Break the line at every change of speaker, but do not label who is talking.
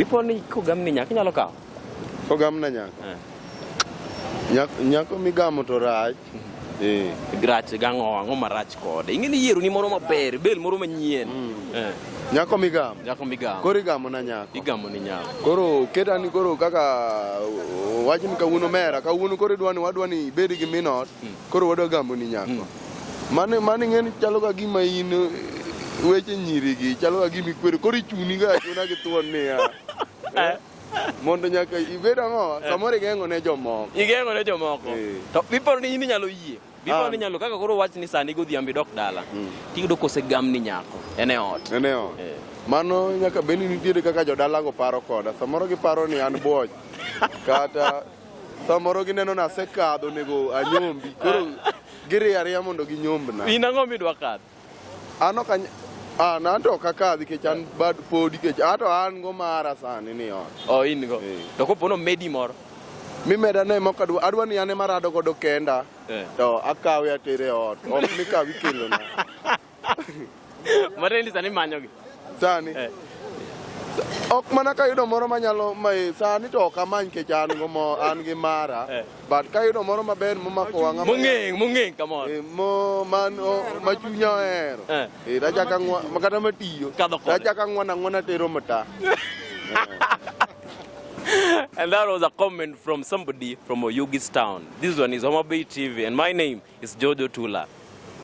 Dipo ni kogamni nyako inyalo kawo? Kogamna nyako?
Eh. Nyako, nyako migamo to rach. Mm-hmm. Eh.
Rach gang'o ang'o marach kode? Ing'e ni yiero ni moro maber, bel moro manyien. Mm. Eh. Nyako
migamo. Nyako migamo. Koro igamo
na nyako.
Igamo ni nyako. Koro
keta ni koro
kaka wajni kawuono mera, kawuono koro idwani wadwani ibedi gi minot, mm. koro wadwa gamo ni nyako. Mm. Mane mane ng'eni chalo ka gima in weche nyiri gi chalo ka gima ikwere koro ichuni ga achuna gi thuon niya. Eh, Mondo nyaka ibed ang'o samoro igeng'o ne jomoko. Igeng'o ne jomoko.
Eh. To biparo ni in inyalo yie. Biparo Ah. ni inyalo kaka koro wach ni sani godhiambo idok dala. Mm. Tiyudo kose gam ni nyako. En e ot. Nene ot. Eh.
Mano nyaka bed ni nitiere kaka jodalago paro koda. Samoro giparo ni an bwoch. Kata Samoro gineno ni asekadho onego anyombi. Koro giriyo ariya mondo ginyombna. In ang'o midwa kadho?
An ok anya- an
an to ok akadhi kech an bad podi kech ato an go mara sani ni ot. Oh, in go. Eh. To
kopo nomedi moro. Mimeda ne
moko adwa adwa ni an ema arado godo kenda. Eh. To akawe atere ot. Ok mikawi kelona.
Matendi sani manyogi. Sani.
Eh. Ok mana ka yudo moro manyalo mai sani to ok amany kech an go mo an gi mara. Eh. But ka yudo moro maber momako wang'a. Mung'eng, mung'eng kamoro.
Eh, mo man
ma chunya ohero. Eh. eh raja ka ngwa makata matiyo. Raja ka ngwana ngwana tero mata.
and that was a comment from somebody from Oyugis town. This one is Homabay TV and my name is Jojo Tula.